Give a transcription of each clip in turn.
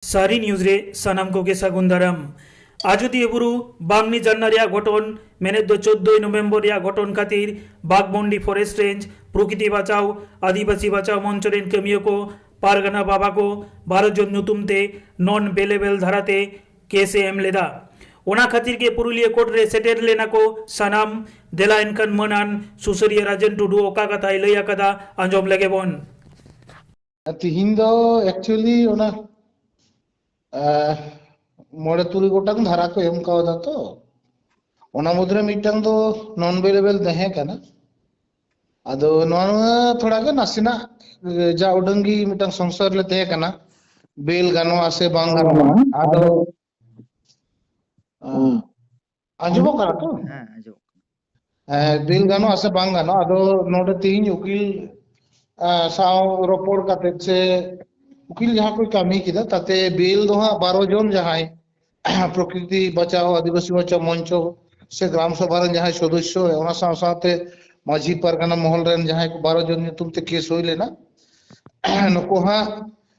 ᱥᱟᱹᱨᱤ ᱱᱤᱭᱩᱡᱽ ᱨᱮ ᱥᱟᱱᱟᱢ ᱠᱚᱜᱮ ᱥᱟᱹᱜᱩᱱ ᱫᱟᱨᱟᱢ ᱟᱡᱚᱫᱤᱭᱟᱹ ᱵᱩᱨᱩ ᱵᱟᱝᱱᱤ ᱡᱟᱨᱱᱟ ᱨᱮᱭᱟᱜ ᱜᱷᱚᱴᱚᱱ ᱢᱮᱱᱮᱫ ᱫᱚ ᱪᱳᱫᱽᱫᱳᱭ ᱱᱚᱵᱷᱮᱢᱵᱚᱨ ᱨᱮᱭᱟᱜ ᱜᱷᱚᱴᱚᱱ ᱠᱷᱟᱹᱛᱤᱨ ᱵᱟᱜᱽᱢᱚᱱᱰᱤ ᱯᱷᱚᱨᱮᱥᱴ ᱨᱮᱧᱡᱽ ᱯᱨᱚᱠᱤᱛᱤ ᱵᱟᱪᱟᱣ ᱟᱹᱫᱤᱵᱟᱹᱥᱤ ᱵᱟᱪᱟᱣ ᱢᱚᱧᱪᱚ ᱨᱮᱱ ᱠᱟᱹᱢᱤᱭᱟᱹ ᱠᱚ ᱯᱟᱨᱜᱟᱱᱟ ᱵᱟᱵᱟ ᱠᱚ ᱵᱟᱨᱚ ᱡᱚᱱ ᱧᱩᱛᱩᱢ ᱛᱮ ᱱᱚᱱ ᱵᱮᱞᱮᱵᱮᱞ ᱫᱷᱟᱨᱟ ᱛᱮ ᱠᱮᱥ ᱮ ᱮᱢ ᱞᱮᱫᱟ ᱚᱱᱟ ᱠᱷᱟᱹᱛᱤᱨ ᱜᱮ ᱯᱩᱨᱩᱞᱤᱭᱟᱹ ᱠᱳᱨᱴ ᱨᱮ ᱥᱮᱴᱮᱨ ᱞᱮᱱᱟ ᱠᱚ ᱥᱟᱱᱟᱢ ᱫᱮᱞᱟ ᱮᱱᱠᱷᱟᱱ ᱢᱟᱹᱱᱟᱱ ᱥᱩᱥᱟᱹᱨᱤᱭᱟᱹ ᱨᱟᱡᱮᱱ ᱴᱩᱰᱩ ᱚᱠᱟ ᱠᱟᱛᱷᱟᱭ ᱞᱟᱹᱭ ᱟᱠᱟᱫᱟ ᱟᱸᱡᱚᱢ ᱞᱮᱜᱮ ᱵᱚᱱ ᱛᱤᱦᱤᱧ ᱫᱚ ᱮᱠᱪᱩᱭᱮᱞᱤ ᱚᱱᱟ ᱢᱚᱬᱮ ᱛᱩᱨᱩᱭ ᱜᱚᱴᱟᱝ ᱫᱷᱟᱨᱟ ᱠᱚ ᱮᱢ ᱠᱟᱣᱫᱟ ᱛᱚ ᱚᱱᱟ ᱢᱩᱫᱽᱨᱮ ᱢᱤᱫᱴᱟᱝ ᱫᱚ ᱱᱚᱱ ᱵᱮᱞᱮᱵᱮᱞ ᱛᱟᱦᱮᱸ ᱠᱟᱱᱟ ᱟᱫᱚ ᱱᱚᱣᱟ ᱛᱷᱚᱲᱟ ᱜᱮ ᱱᱟᱥᱮᱱᱟᱜ ᱡᱟ ᱩᱰᱟᱹᱝ ᱜᱮ ᱢᱤᱫᱴᱟᱝ ᱥᱚᱝᱥᱟᱨ ᱞᱮ ᱛᱟᱦᱮᱸ ᱠᱟᱱᱟ ᱵᱮᱞ ᱜᱟᱱᱚᱜᱼᱟ ᱥᱮ ᱵᱟᱝ ᱜᱟᱱᱚᱜᱼᱟ ᱟᱫᱚ ᱟᱸᱡᱚᱢᱚᱜ ᱠᱟᱱᱟ ᱛᱚ ᱦᱮᱸ ᱟᱸᱡᱚᱢᱚᱜ ᱠᱟᱱᱟ ᱵᱤᱞ ᱜᱟᱱᱚᱜᱼᱟ ᱥᱮ ᱵᱟᱝ ᱜᱟᱱᱚᱜᱼᱟ ᱟᱫᱚ ᱱᱚᱰᱮ ᱛᱮᱦᱤᱧ ᱩᱠᱤᱞ ᱥᱟᱶ ᱨᱚᱯᱚᱲ ᱠᱟᱛᱮ ᱥᱮ ᱩᱠᱤᱞ ᱡᱟᱦᱟᱸ ᱠᱚ ᱠᱟᱹᱢᱤ ᱠᱮᱫᱟ ᱛᱟᱛᱮ ᱵᱤᱞ ᱫᱚ ᱦᱟᱸᱜ ᱵᱟᱨᱚ ᱡᱚᱱ ᱡᱟᱦᱟᱸᱭ ᱯᱨᱚᱠᱨᱤᱛᱤ ᱵᱟᱪᱟᱣ ᱟᱹᱫᱤᱵᱟᱹᱥᱤ ᱵᱟᱪᱟᱣ ᱢᱚᱧᱪᱚ ᱥᱮ ᱜᱨᱟᱢ ᱥᱚᱵᱷᱟ ᱨᱮᱱ ᱡᱟᱦᱟᱸᱭ ᱥᱚᱫᱚᱥᱥᱚ ᱚᱱᱟ ᱥᱟᱶ ᱥᱟᱶᱛᱮ ᱢᱟᱺᱡᱷᱤ ᱯᱟᱨᱜᱟᱱᱟ ᱢᱚᱦᱚᱞ ᱨᱮᱱ ᱡᱟᱦᱟᱸᱭ ᱠᱚ ᱵᱟᱨᱚ ᱡᱚᱱ ᱧᱩᱛᱩᱢ ᱛᱮ ᱠᱮᱥ ᱦᱩᱭ ᱞᱮᱱᱟ ᱱᱩᱠᱩ ᱦᱟᱸᱜ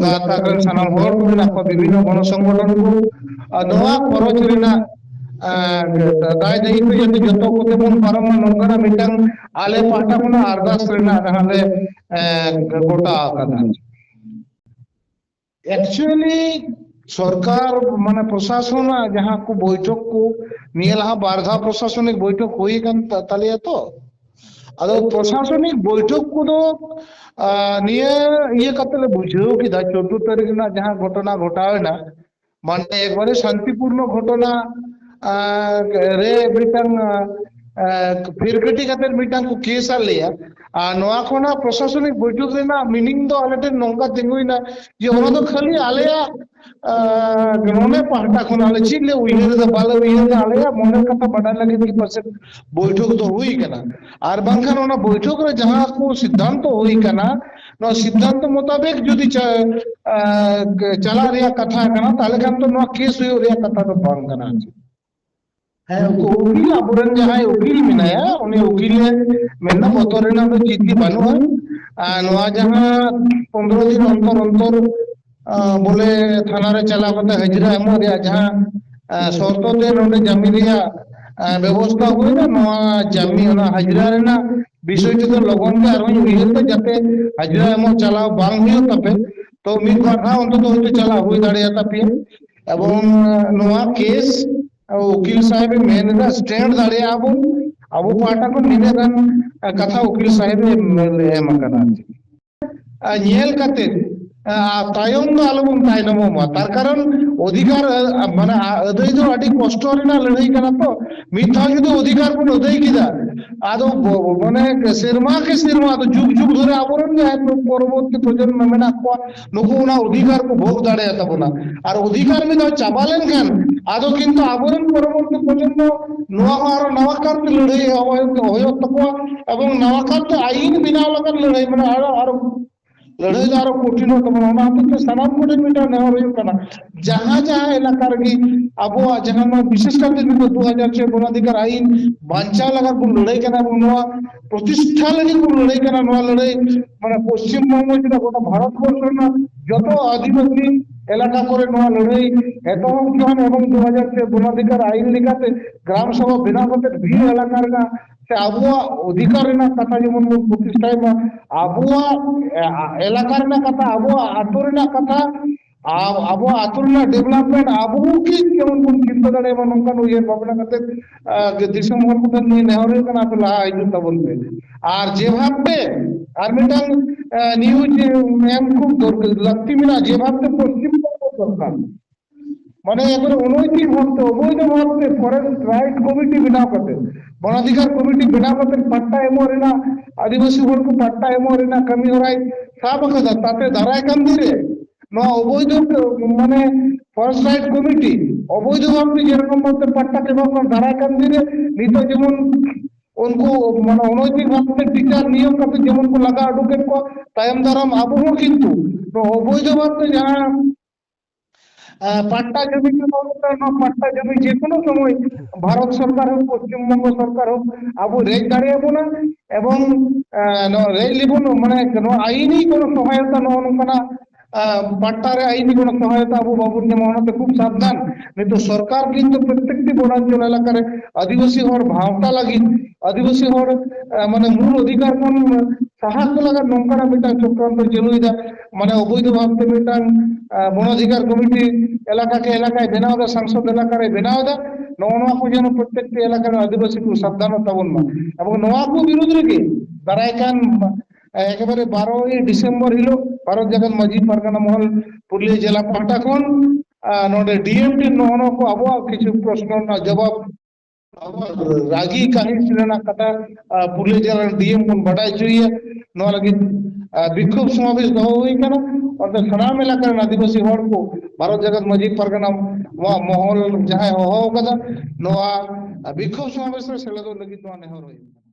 ᱜᱟᱶᱛᱟ ᱠᱚᱨᱮᱱ ᱥᱟᱱᱟᱢ ᱦᱚᱲ ᱠᱚ ᱢᱮᱱᱟᱜ ᱠᱚᱣᱟ ᱵᱤᱵᱷᱤᱱᱱᱚ ᱜᱚᱲᱚ ᱥᱚᱝᱜᱚᱴᱷᱚᱱ ᱠᱚ ᱟᱨ ᱱᱚᱣᱟ ᱠᱷᱚᱨᱚᱪ ᱨᱮᱱᱟᱜ ᱫᱟᱭ ᱫᱟᱹᱭᱤᱛᱛᱚ ᱡᱟᱛᱮ ᱡᱚᱛᱚ ᱠᱚᱛᱮ ᱵᱚᱱ ᱯᱟᱨᱚᱢ ᱢᱟ ᱱᱚᱝᱠᱟᱱᱟᱜ ᱢᱤᱫᱴᱟᱝ ᱟᱞᱮ ᱯᱟᱦᱴᱟ ᱠᱷᱚᱱᱟᱜ ᱟᱨᱫᱟᱥ ᱨᱮᱱᱟᱜ ᱡᱟᱦᱟᱸ ᱞᱮ ᱜᱚᱴᱟ ᱟᱠᱟᱫᱟ ᱮᱠᱪᱩᱭᱮᱞᱤ ᱥᱚᱨᱠᱟᱨ ᱢᱟᱱᱮ ᱯᱨᱚᱥᱟᱥᱚᱱᱟᱜ ᱡᱟᱦᱟᱸ ᱠᱚ ᱵᱳᱭᱴᱷᱚᱠ ᱠᱚ ᱱᱤᱭᱟᱹ ᱞᱟᱦᱟ ᱵᱟᱨ ᱫᱷᱟᱣ ᱯᱨᱚᱥᱟᱥᱚᱱᱤᱠ ᱵᱳᱭᱴᱷᱚᱠ ᱦᱩᱭ ᱟᱠᱟᱱ ᱛᱟᱞᱮᱭᱟ ᱛᱚ ᱟᱫᱚ ᱯᱨᱚᱥᱟᱥᱚᱱᱤᱠ ᱵᱳᱭᱴᱷᱚᱠ ᱠᱚᱫᱚ ᱟᱸ ᱱᱤᱭᱟᱹ ᱤᱭᱟᱹ ᱠᱟᱛᱮ ᱞᱮ ᱵᱩᱡᱷᱟᱹᱣ ᱠᱮᱫᱟ ᱪᱳᱫᱫᱳ ᱛᱟᱹᱨᱤᱠᱷ ᱨᱮᱱᱟᱜ ᱡᱟᱦᱟᱸ ᱜᱷᱚᱴᱚᱱᱟ ᱜᱷᱚᱴᱟᱣ ᱮᱱᱟ ᱢᱟᱱᱮ ᱮᱠᱵᱟᱨᱮ ᱥᱟᱱᱛᱤᱯᱩᱨᱱᱚ ᱜᱷᱚᱴᱱᱟ ᱟᱨ ᱨᱮ ᱢᱤᱫᱴᱟᱝ ᱮᱸ ᱯᱷᱤᱨᱠᱟᱹᱴᱤ ᱠᱟᱛᱮᱫ ᱢᱤᱫᱴᱟᱝ ᱠᱚ ᱠᱮᱥ ᱟᱫ ᱞᱮᱭᱟ ᱟᱨ ᱱᱚᱣᱟ ᱠᱷᱚᱱᱟᱜ ᱯᱨᱚᱥᱟᱥᱚᱱᱤᱠ ᱵᱳᱭᱴᱷᱚᱠ ᱨᱮᱱᱟᱜ ᱢᱤᱱᱤᱝ ᱫᱚ ᱟᱞᱮ ᱴᱷᱮᱱ ᱱᱚᱝᱠᱟ ᱛᱤᱸᱜᱩᱭᱮᱱᱟ ᱡᱮ ᱚᱱᱟ ᱫᱚ ᱠᱷᱟᱹᱞᱤ ᱟᱞᱮᱭᱟᱜ ᱟᱨ ᱱᱚᱰᱮ ᱯᱟᱦᱴᱟ ᱠᱷᱚᱱ ᱟᱞᱮ ᱪᱮᱫ ᱞᱮ ᱩᱭᱦᱟᱹᱨ ᱮᱫᱟ ᱵᱟᱞᱮ ᱩᱭᱦᱟᱹᱨ ᱮᱫᱟ ᱟᱞᱮᱭᱟᱜ ᱢᱚᱱᱮ ᱠᱟᱛᱷᱟ ᱵᱟᱰᱟᱭ ᱞᱟᱹᱜᱤᱫ ᱜᱮ ᱯᱟᱪᱮᱫ ᱵᱳᱭᱴᱷᱚᱠ ᱫᱚ ᱦᱩᱭ ᱠᱟᱱᱟ ᱟᱨ ᱵᱟᱝᱠᱷᱟᱱ ᱚᱱᱟ ᱵᱳᱭᱴᱷᱚᱠ ᱨᱮ ᱡᱟᱦᱟᱸ ᱠᱚ ᱥᱤᱫᱽᱫᱷᱟᱱᱛᱚ ᱦᱩᱭ ᱠᱟᱱᱟ ᱱᱚᱣᱟ ᱥᱤᱫᱽᱫᱷᱟᱱᱛᱚ ᱢᱚᱛᱟᱵᱮᱠ ᱡᱩᱫᱤ ᱪᱟ ᱟᱸ ᱪᱟᱞᱟᱜ ᱨᱮᱭᱟᱜ ᱠᱟᱛᱷᱟ ᱠᱟᱱᱟ ᱛᱟᱦᱚᱞᱮ ᱠᱷᱟᱱ ᱫᱚ ᱱᱚᱣᱟ ᱠᱮᱥ ᱦᱩᱭᱩᱜ ᱨᱮᱭᱟᱜ ᱠᱟᱛᱷᱟ ᱫᱚ ᱵᱟᱝ ᱠᱟᱱᱟ ᱟᱨ ᱪᱮᱫ ᱦᱮᱸ ᱩᱱᱠᱩ ᱩᱠᱤᱞ ᱟᱵᱚᱨᱮᱱ ᱡᱟᱦᱟᱸᱭ ᱩᱠᱤᱞ ᱢᱮᱱᱟᱭᱟ ᱩᱱᱤ ᱩᱠᱤᱞ ᱮ ᱢᱮᱱᱫᱟ ᱵᱚᱛᱚᱨ ᱨᱮᱱᱟᱜ ᱫᱚ ᱪᱮᱫ ᱜᱮ ᱵᱟᱹᱱᱩᱜᱼᱟ ᱟᱨ ᱱᱚᱣᱟ ᱡᱟᱦᱟᱸ ᱯᱚᱱᱨᱚ ᱫᱤᱱ ᱚᱱᱛᱚᱨ ᱚᱱᱛᱚᱨ ᱵᱚᱞᱮ ᱛᱷᱟᱱᱟ ᱨᱮ ᱪᱟᱞᱟᱣ ᱠᱟᱛᱮ ᱦᱟᱹᱡᱨᱤ ᱮᱢᱚᱜ ᱨᱮᱭᱟᱜ ᱡᱟᱦᱟᱸ ᱥᱚᱨᱛᱚ ᱛᱮ ᱱᱚᱰᱮ ᱡᱟᱹᱢᱤᱱ ᱨᱮᱭᱟᱜ ᱵᱮᱵᱚᱥᱛᱟ ᱦᱩᱭᱱᱟ ᱱᱚᱣᱟ ᱡᱟᱢᱤ ᱚᱱᱟ ᱦᱟᱡᱨᱟ ᱨᱮᱱᱟᱜ ᱵᱤᱥᱚᱭ ᱛᱮᱫᱚ ᱞᱚᱜᱚᱱ ᱜᱮ ᱟᱨᱦᱚᱧ ᱩᱭᱦᱟᱹᱨ ᱫᱟ ᱡᱟᱛᱮ ᱦᱟᱡᱨᱤ ᱮᱢᱚᱜ ᱪᱟᱞᱟᱣ ᱵᱟᱝ ᱦᱩᱭᱩᱜ ᱛᱟᱯᱮ ᱛᱚ ᱢᱤᱫ ᱵᱟᱨ ᱫᱷᱟᱣ ᱚᱱᱛᱚᱛᱚ ᱦᱚᱭᱛᱳ ᱪᱟᱞᱟᱜ ᱦᱩᱭ ᱫᱟᱲᱮᱭᱟ ᱛᱟᱯᱮᱭᱟ ᱮᱵᱚᱝ ᱱᱚᱣᱟ ᱠᱮᱥ ᱩᱠᱤᱞ ᱥᱟᱦᱮᱵᱽ ᱮ ᱢᱮᱱ ᱮᱫᱟ ᱥᱴᱮᱱᱰ ᱫᱟᱲᱮᱭᱟᱜᱼᱟ ᱵᱚᱱ ᱟᱵᱚ ᱯᱟᱦᱴᱟ ᱠᱷᱚᱱ ᱱᱤᱱᱟᱹᱜ ᱜᱟᱱ ᱠᱟᱛᱷᱟ ᱩᱠᱤᱞ ᱥᱟᱦᱮᱵᱽ ᱮ ᱮᱢ ᱟᱠᱟᱫᱟ ᱟᱨ ᱪᱮᱫ ᱟᱨ ᱧᱮᱞ ᱠᱟᱛᱮᱫ ᱛᱟᱭᱚᱢ ᱫᱚ ᱟᱞᱚᱵᱚᱱ ᱛᱟᱭᱱᱚᱢᱚᱜ ᱢᱟ ᱛᱟᱨ ᱠᱟᱨᱚᱱ ᱚᱫᱷᱤᱠᱟᱨ ᱢᱟᱱᱮ ᱟᱹᱫᱟᱹᱭ ᱫᱚ ᱟᱹᱰᱤ ᱠᱚᱥᱴᱚ ᱨᱮᱱᱟᱜ ᱞᱟᱹᱲᱦᱟᱹᱭ ᱠᱟᱱᱟ ᱛᱚ ᱢᱤᱫ ᱫᱷᱟᱣ ᱡᱩᱫᱤ ᱚᱫᱷᱤᱠᱟᱨ ᱵᱚᱱ ᱟᱹᱫᱟᱹᱭ ᱠᱮᱫᱟ ᱟᱫᱚ ᱢᱟᱱᱮ ᱥᱮᱨᱢᱟ ᱠᱮ ᱥᱮᱨᱢᱟ ᱫᱚ ᱡᱩᱜᱽ ᱡᱩᱜᱽ ᱫᱷᱚᱨᱮ ᱟᱵᱚᱨᱮᱱ ᱡᱟᱦᱟᱸᱭ ᱯᱚᱨᱚᱵᱚᱨᱛᱤ ᱯᱨᱚᱡᱚᱱᱢᱚ ᱢᱮᱱᱟᱜ ᱠᱚᱣᱟ ᱱᱩᱠᱩ ᱚᱱᱟ ᱚᱫᱷᱤᱠᱟᱨ ᱠᱚ ᱵᱷᱳᱜ ᱫᱟᱲᱮᱭᱟ ᱛᱟᱵᱚᱱᱟ ᱟᱨ ᱚᱫᱷᱤᱠᱟᱨ ᱢᱤᱫ ᱫᱷᱟᱣ ᱪᱟᱵᱟ ᱞᱮᱱᱠᱷᱟᱱ ᱟᱫᱚ ᱠᱤᱱᱛᱩ ᱟᱵᱚᱨᱮᱱ ᱯᱚᱨᱚᱵᱚᱨᱛᱤ ᱯᱨᱚᱡᱚᱱᱢᱚ ᱱᱚᱣᱟ ᱦᱚᱸ ᱟᱨᱚ ᱱᱟᱣᱟ ᱠᱟᱨᱛᱮ ᱞᱟᱹᱲᱦᱟᱹᱭ ᱮᱦᱚᱵ ᱦᱩᱭᱩᱜ ᱛᱟᱠᱚᱣᱟ ᱮᱵᱚᱝ ᱱᱟᱣᱟ ᱠᱟᱨᱛᱮ ᱟᱭᱤᱱ ᱵᱮᱱᱟᱣ ᱞᱟᱹᱜᱤᱫ ᱞᱟᱹᱲᱦᱟᱹᱭ ᱢᱟᱱᱮ ᱟᱨᱚ ᱟᱨᱚ ᱞᱟᱹᱲᱦᱟᱹᱭ ᱫᱚ ᱟᱨᱚ ᱠᱚᱴᱷᱤᱱᱚᱜ ᱛᱟᱵᱚᱱᱟ ᱚᱱᱟ ᱦᱚᱛᱮᱡ ᱛᱮ ᱥᱟᱱᱟᱢ ᱠᱚᱴᱷᱮᱱ ᱢᱤᱫᱴᱟᱝ ᱱᱮᱦᱚᱨ ᱦᱩᱭᱩᱜ ᱠᱟᱱᱟ ᱡᱟᱦᱟᱸ ᱡᱟᱦᱟᱸ ᱮᱞᱟᱠᱟ ᱨᱮᱜᱮ ᱟᱵᱚᱣᱟᱜ ᱡᱟᱦᱟᱸ ᱱᱚᱣᱟ ᱵᱤᱥᱮᱥ ᱠᱟᱨᱛᱮ ᱱᱤᱛᱚᱜ ᱫᱩ ᱦᱟᱡᱟᱨ ᱪᱷᱚᱭ ᱜᱚᱱᱚᱫᱷᱤᱠᱟᱨ ᱟᱭᱤᱱ ᱵᱟᱧᱪᱟᱣ ᱞᱟᱜᱟᱫ ᱵᱚᱱ ᱞᱟᱹᱲᱦᱟᱹᱭ ᱠᱟᱱᱟ ᱵᱚᱱ ᱱᱚᱣᱟ ᱯᱨᱚᱛᱤᱥᱴᱷᱟ ᱞᱟᱹᱜᱤᱫ ᱵᱚᱱ ᱞᱟᱹᱲᱦᱟᱹᱭ ᱠᱟᱱᱟ ᱱᱚᱣᱟ ᱞᱟᱹᱲᱦᱟᱹᱭ ᱢᱟᱱᱮ ᱯᱚᱥᱪᱤᱢ ᱵᱚᱝᱜᱚ ᱪᱮᱫᱟᱜ ᱜᱚᱴᱟ ᱵᱷᱟᱨᱚᱛ ᱵᱚᱨᱥᱚ ᱨᱮᱱᱟᱜ ᱡᱚᱛᱚ ᱟᱹᱫᱤᱵᱟᱹᱥᱤ ᱮᱞᱟᱠᱟ ᱠᱚᱨᱮ ᱱᱚᱣᱟ ᱞᱟᱹᱲᱦᱟᱹᱭ ᱮᱛᱚᱦᱚᱵ ᱠᱷᱚᱱ ᱮᱵᱚᱝ ᱫᱩ ᱦᱟᱡᱟᱨ ᱯᱮ ᱜᱚᱱᱚᱫᱷᱤᱠᱟᱨ ᱟᱭᱤᱱ ᱞᱮᱠᱟᱛᱮ ᱜᱨᱟᱢ ᱥᱚᱵᱷᱟ ᱵᱮᱱᱟᱣ ᱠᱟᱛᱮ ᱵᱷᱤᱲ ᱮᱞᱟᱠᱟ ᱨᱮᱱᱟᱜ ᱥᱮ ᱟᱵᱚᱣᱟᱜ ᱚᱫᱷᱤᱠᱟᱨ ᱨᱮᱱᱟᱜ ᱠᱟᱛᱷᱟ ᱡᱮᱢᱚᱱ ᱵᱚᱱ ᱯᱨᱚᱛᱤᱥᱴᱷᱟᱭ ᱢᱟ ᱟᱵᱚᱣᱟᱜ ᱮᱞᱟᱠᱟ ᱨᱮᱱᱟᱜ ᱠᱟᱛᱷᱟ ᱟᱵᱚᱣᱟᱜ ᱟᱹᱛᱩ ᱨᱮᱱᱟᱜ ᱠᱟᱛᱷᱟ ᱟᱨ ᱟᱵᱚᱣᱟᱜ ᱟᱹᱛᱩ ᱨᱮᱱᱟᱜ ᱰᱮᱵᱷᱞᱚᱯᱢᱮᱱᱴ ᱟᱵᱚ ᱠᱤ ᱡᱮᱢᱚᱱ ᱵᱚᱱ ᱪᱤᱱᱛᱟᱹ ᱫᱟᱲᱮᱭᱟᱜ ᱢᱟ ᱱᱚᱝᱠᱟᱱ ᱩᱭᱦᱟᱹᱨ ᱵᱷᱟᱵᱽᱱᱟ ᱠᱟᱛᱮ ᱡᱮ ᱫᱤᱥᱚᱢ ᱦᱚᱲ ᱠᱚ ᱴᱷᱮᱱ ᱱᱮᱦᱚᱨ ᱦᱩᱭᱩᱜ ᱠᱟᱱᱟ ᱟᱯᱮ ᱞᱟᱦᱟ ᱦᱤᱡᱩᱜ ᱛᱟᱵᱚᱱ ᱯᱮ ᱟᱨ ᱡᱮ ᱵᱷᱟᱵ ᱛᱮ ᱟᱨ ᱢᱤᱫᱴᱟᱝ ᱱᱤᱭᱩᱡᱽ ᱮᱢ ᱠᱷᱩᱵ ᱫᱚᱨᱠᱟᱨ ᱞᱟᱹᱠᱛᱤ ᱢᱮᱱᱟᱜᱼᱟ ᱡᱮ ᱵᱷᱟᱵ ᱛᱮ ᱯᱚᱥᱪᱤᱢ ᱵᱚᱝᱜᱚ ᱥᱚᱨᱠᱟᱨ ᱢᱟᱱᱮ ᱮᱠᱵᱟᱨᱮ ᱚᱱᱳᱭᱛᱤᱠ ᱵᱷᱟᱵ ᱛᱮ ᱚᱵᱚᱭᱫᱷᱚ ᱵᱷᱟᱵ ᱛᱮ ᱯᱷᱚᱨᱮᱥᱴ ᱨᱟᱭᱤᱴ ᱠᱚᱢᱤᱴᱤ ᱵᱮᱱᱟᱣ ᱠᱟᱛᱮ ᱵᱚᱱ ᱚᱫᱷᱤᱠᱟᱨ ᱠᱚᱢᱤᱴᱤ ᱵᱮᱱᱟᱣ ᱠᱟᱛᱮ ᱯᱟᱴᱴᱟ ᱮᱢᱚᱜ ᱨᱮᱱᱟᱜ ᱟᱹᱫᱤᱵᱟᱹᱥᱤ ᱦᱚᱲ ᱠᱚ ᱯᱟᱴᱴᱟ ᱮᱢᱚᱜ ᱨᱮᱱᱟᱜ ᱠᱟᱹᱢᱤ ᱦᱚᱨᱟᱭ ᱥᱟᱵ ᱟᱠᱟᱫᱟ ᱛᱟᱛᱮ ᱫᱟᱨᱟᱭ ᱠᱟᱱ ᱫᱤᱱ ᱨᱮ ᱱᱚᱣᱟ ᱚᱵᱚᱭ ᱫᱷᱚ ᱢᱟᱱᱮ ᱯᱷᱚᱨᱮᱥ ᱨᱟᱭᱤᱴ ᱠᱚᱢᱤᱴᱤ ᱚᱵᱚᱭᱫᱷᱚ ᱵᱷᱟᱵ ᱛᱮ ᱡᱮᱨᱚᱠᱚᱢ ᱵᱷᱟᱵ ᱛᱮ ᱯᱟᱴᱴᱟ ᱠᱚ ᱮᱢᱟᱜ ᱠᱟᱱᱟ ᱫᱟᱨᱟᱭ ᱠᱟᱱ ᱫᱤᱱ ᱨᱮ ᱱᱤᱛᱚᱜ ᱡᱮᱢᱚᱱ ᱩᱱᱠᱩ ᱢᱟᱱᱮ ᱚᱱᱳᱭᱛᱤᱠ ᱵᱷᱟᱵ ᱛᱮ ᱴᱤᱪᱟᱨ ᱱᱤᱭᱳᱜ ᱠᱟᱛᱮ ᱡᱮᱢᱚᱱ ᱠᱚ ᱞᱟᱜᱟ ᱩᱰᱩᱠᱮᱫ ᱠᱚᱣᱟ ᱛᱟᱭᱚᱢ ᱫᱟᱨᱟᱢ ᱟᱵᱚ ᱦᱚᱸ ᱠᱤᱱᱛᱩ ᱱᱚᱣᱟ ᱚᱵᱚᱭᱫᱷᱚ ᱵᱷᱟᱵ ᱛᱮ ᱡᱟᱦᱟᱸ ᱯᱟᱴᱴᱟ ᱡᱚᱢᱤ ᱯᱟᱴᱴᱟ ᱡᱚᱢᱤ ᱡᱮᱠᱳᱱᱳ ᱥᱚᱢᱚᱭ ᱵᱷᱟᱨᱚᱛ ᱥᱚᱨᱠᱟᱨ ᱦᱚᱸ ᱯᱚᱥᱪᱤᱢ ᱵᱚᱝᱜᱚ ᱥᱚᱨᱠᱟᱨ ᱦᱚᱸ ᱟᱵᱚ ᱨᱮᱡ ᱫᱟᱲᱮᱭᱟᱜ ᱵᱚᱱᱟ ᱮᱵᱚᱝ ᱱᱚᱣᱟ ᱨᱮᱡ ᱞᱮᱵᱚᱱ ᱢᱟᱱᱮ ᱱᱚᱣᱟ ᱟᱭᱤᱱ ᱠᱚᱱ ᱥᱚᱦᱟᱭᱚᱛᱟ ᱱᱚᱜᱼᱚ ᱱᱚᱝᱠᱟᱱᱟᱜ ᱯᱟᱴᱴᱟ ᱨᱮ ᱟᱭᱤᱱᱤ ᱜᱚᱲᱚ ᱥᱚᱦᱚᱭᱛᱟ ᱟᱵᱚ ᱵᱟᱵᱚᱱ ᱧᱟᱢᱟ ᱚᱱᱟᱛᱮ ᱠᱷᱩᱵ ᱥᱟᱵᱫᱷᱟᱱ ᱱᱤᱛᱚᱜ ᱥᱚᱨᱠᱟᱨ ᱠᱤᱱᱛᱩ ᱯᱨᱚᱛᱛᱮᱠᱴᱤ ᱵᱚᱱᱟᱚᱱ ᱮᱞᱟᱠᱟ ᱨᱮ ᱟᱹᱫᱤᱵᱟᱹᱥᱤ ᱦᱚᱲ ᱵᱷᱟᱶᱛᱟ ᱞᱟᱹᱜᱤᱫ ᱟᱹᱫᱤᱵᱟᱹᱥᱤ ᱦᱚᱲ ᱢᱟᱱᱮ ᱢᱩᱞ ᱚᱫᱷᱤᱠᱟᱨ ᱠᱷᱚᱱ ᱥᱟᱦᱟ ᱠᱚ ᱞᱟᱜᱟᱱ ᱱᱚᱝᱠᱟᱱᱟᱜ ᱢᱤᱫᱴᱟᱝ ᱪᱚᱠᱨᱚ ᱪᱟᱹᱞᱩᱭᱮᱫᱟ ᱢᱟᱱᱮ ᱚᱵᱚᱭᱫᱷᱚ ᱵᱷᱟᱵ ᱛᱮ ᱢᱤᱫᱴᱟᱝ ᱵᱚᱱ ᱚᱫᱷᱤᱠᱟᱨ ᱠᱚᱢᱤᱴᱤ ᱮᱞᱟᱠᱟ ᱠᱮ ᱮᱞᱟᱠᱟᱭ ᱵᱮᱱᱟᱣ ᱫᱟ ᱥᱚᱝᱥᱚᱫ ᱮᱞᱟᱠᱟ ᱨᱮ ᱵᱮᱱᱟᱣ ᱫᱟ ᱱᱚᱜᱼᱚ ᱱᱚᱣᱟ ᱠᱚ ᱡᱮᱱᱚ ᱯᱨᱚᱛᱛᱮᱠᱴᱤ ᱮᱞᱟᱠᱟ ᱨᱮ ᱟᱹᱫᱤᱵᱟᱹᱥᱤ ᱠᱚ ᱥᱟᱵᱫᱷᱟᱱᱚᱜ ᱛᱟᱵᱚᱱ ᱢᱟ ᱟᱵᱚ ᱱᱚᱣᱟ ᱠᱚ ᱵᱤᱨᱩᱫᱽ ᱨᱮᱜᱮ ᱫᱟᱨᱟᱭ ᱠᱟᱱ ᱮᱠᱵᱟᱨᱮ ᱵᱟᱨᱚᱭ ᱰᱤᱥᱮᱢᱵᱚᱨ ᱦᱤᱞᱳᱜ ᱵᱷᱟᱨᱚᱛ ᱡᱟᱠᱟᱛ ᱢᱟᱺᱡᱷᱤ ᱯᱟᱨᱜᱟᱱᱟ ᱢᱚᱦᱚᱞ ᱯᱩᱨᱩᱞᱤᱭᱟᱹ ᱡᱮᱞᱟ ᱯᱟᱦᱴᱟ ᱠᱷᱚᱱ ᱟᱨ ᱱᱚᱰᱮ ᱰᱤ ᱮᱢ ᱴᱷᱮᱱ ᱱᱚᱜᱼᱚ ᱱᱚᱣᱟ ᱠᱚ ᱟᱵᱚᱣᱟᱜ ᱠᱤᱪᱷᱩ ᱯᱨᱚᱥᱱᱚ ᱨᱮᱱᱟᱜ ᱡᱚᱵᱟᱵ ᱨᱟᱹᱜᱤ ᱠᱟᱹᱦᱤᱥ ᱨᱮᱱᱟᱜ ᱠᱟᱛᱷᱟ ᱯᱩᱞᱤᱥ ᱡᱮᱞ ᱰᱤ ᱮᱢ ᱵᱚᱱ ᱵᱟᱰᱟᱭ ᱦᱚᱪᱚᱭᱮᱭᱟ ᱱᱚᱣᱟ ᱞᱟᱹᱜᱤᱫ ᱵᱤᱠᱠᱷᱳᱯ ᱥᱚᱢᱟᱵᱷᱤᱥ ᱫᱚᱦᱚ ᱦᱩᱭ ᱠᱟᱱᱟ ᱚᱸᱰᱮ ᱥᱟᱱᱟᱢ ᱮᱞᱟᱠᱟ ᱨᱮᱱ ᱟᱹᱫᱤᱵᱟᱹᱥᱤ ᱦᱚᱲ ᱠᱚ ᱵᱷᱟᱨᱚᱛ ᱡᱟᱠᱟᱛ ᱢᱟᱺᱡᱷᱤ ᱯᱟᱨᱜᱟᱱᱟ ᱱᱚᱣᱟ ᱢᱚᱦᱚᱞ ᱡᱟᱦᱟᱸᱭ ᱦᱚᱦᱚ ᱟᱠᱟᱫᱟ ᱱᱚᱣᱟ ᱵᱤᱠᱠᱷᱳᱯ ᱥᱚᱢᱟᱵᱮᱥ ᱨᱮ ᱥᱮᱞᱮᱫᱚᱜ ᱞᱟᱹᱜᱤᱫ ᱱᱚᱣᱟ ᱱᱮᱦᱚᱨ ᱦᱩᱭᱩᱜ ᱠᱟᱱᱟ